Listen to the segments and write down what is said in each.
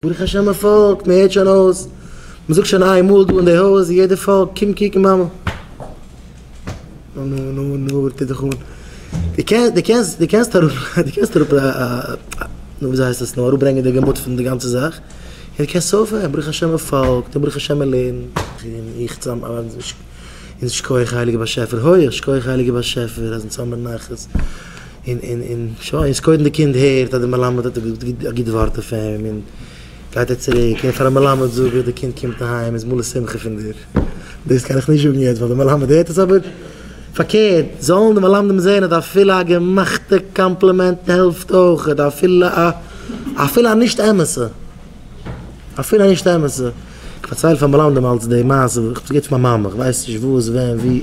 ברוך השם מען פארקט, מען הערט שוין אויס, מען זאגט שוין איין מאל דא אין די הויז און יעדער פארקט, קום קוקן מאמע. נו נו נו נו וואס טוט זיך אן? דו קענסט דו קענסט דו קענסט אראפ דו קענסט אראפ נו ווי אזוי הייסט עס נו אראפברענגען די געמוט פון די גאנצע זאך, און דו קענסט אויפהערן, ברוך השם מען פארקט און ברוך השם מען לערנט. און איך צאם און שכוח הייליגער באשעפער, הויעך שכוח הייליגער באשעפער אז אונז האמיר נחת, און שוין, איז קודם די קינד הערט אז די מלמד האט א גוט ווארט אויף אים, און גייט ער צוריק און פארן מלמד זאגן ווי די קינד קומט אהיים איז מלא שמחה פון דיר, דאס קען איך נישט זאגן יעצט ווייל די מלמד הערט עס אבער פארקערט זאלן די מלמדים זען אז אפילו א געמאכטע קאמפלימענט העלפט אויך און אפילו א אפילו א נישט אמת'ע אפילו א נישט אמת'ע איך פארצייל פאר מלמדים אלץ די מעשה איך האב עס געהערט פון מיין מאמע איך ווייס נישט וואס ווען ווי.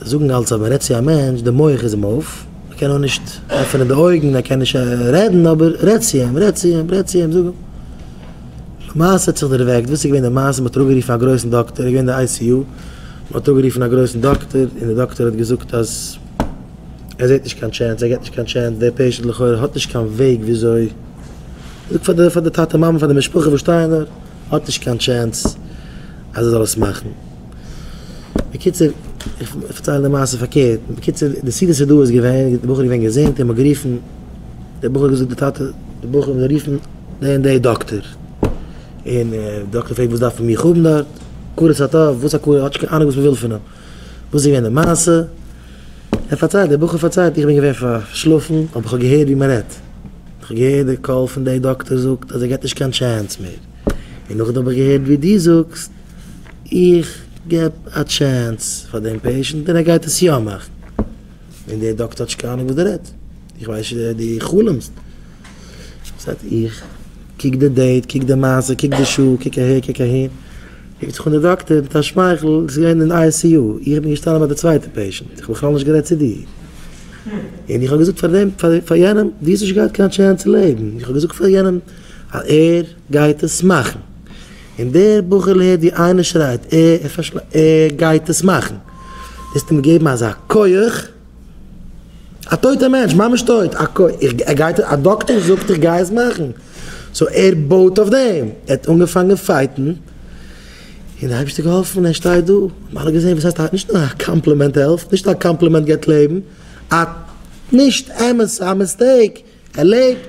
זאגן אלץ אז מען רעדט צו א מענטש די מח איז אים אויף, ער קען נאר נישט עפענען די אויגן, ער קען נישט רעדן אבער רעד צו אים, רעד צו אים, רעד צו אים, זאג אים. למעשה האט זיך דערוועקט, וואס איז געווען די מעשה, מען האט אראפגערופן א גרויסן דאקטער, ער איז געווען אין די איי סי יו, מען האט אראפגערופן א גרויסן דאקטער און די דאקטער האט געזאגט אז ער זעט נישט קיין טשענס, ער גיבט נישט קיין טשענס, דער פעישענט לכאורה האט נישט קיין וועג וויאזוי, זאג פאר די טאטע מאמע פאר די משפחה וואס שטייען דארט. האט נישט קיין טשענס אז ער זאל עס מאכן. בקיצור, איך פארצייל די מעשה פארקערט. בקיצור, די סיבה ס'איז דא איז געווען, די בחור איז געווען געזונט און מ'האט גערופן, דער בחור האט געזאגט די טאטע, די בחור האט גערופן די און די דאקטער, און די דאקטער פרעגט וואס דארפן מיר האבן דארט, הכרת הטוב, וואס הכרת, האט נישט קיין אנונג וואס מ'וויל פון אים. וואס איז געווען די מעשה? ער פארציילט, דער בחור פארציילט, איך בין געווען פארשלאפן, אבער כ'האב געהערט ווי מ'רעדט. כ'האב געהערט די קול פון דער דאקטער זאגט אז ער געט נישט קיין טשענס מער. און נאכדעם האב איך געהערט ווי דו זאגסט, איך געב א טשענס פאר דעם פעישענט און ער גייט עס יא מאכן. און דער דאקטער האט נישט קיין אנונג וואס דער רעדט. איך ווייס נישט, דו חלומ'סט. זעט איך, קוק די דעיט, קוק די מעשה, קוק די שעה, קוק אהער, קוק אהין, רופט זיך אן די דאקטער מיט א שמייכל, ביסט געווען אין ICU, איך בין געשטאנען ביי די צווייטע פעישענט, איך האב בכלל נישט גערעדט צו דיר, און איך האב געזאגט פאר דעם, פאר יענעם, דו האסט נישט געהאט קיין טשענס צו לעבן, איך האב געזאגט פאר יענעם אז ער גייט עס מאכן, און דער בחור'ל הערט ווי איינער שרייט, ער גייט עס מאכן, דו האסט אים געגעבן אזא כח. א טויטע מענטש ממש טויט א קוי איך ער גייט א דאקטער זאגט איך גיי עס מאכן סאו ער בויט אויף דעם ער האט אנגעפאנגען פייטן און די אייבישטער געהאלפן ער שטייט דא האבן אלע געזעהן וואס הייסט א נישט נאר א קאמפלימענט העלפט נישט א קאמפלימענט געבט לעבן א נישט אמת א מיסטעיק ער לעבט.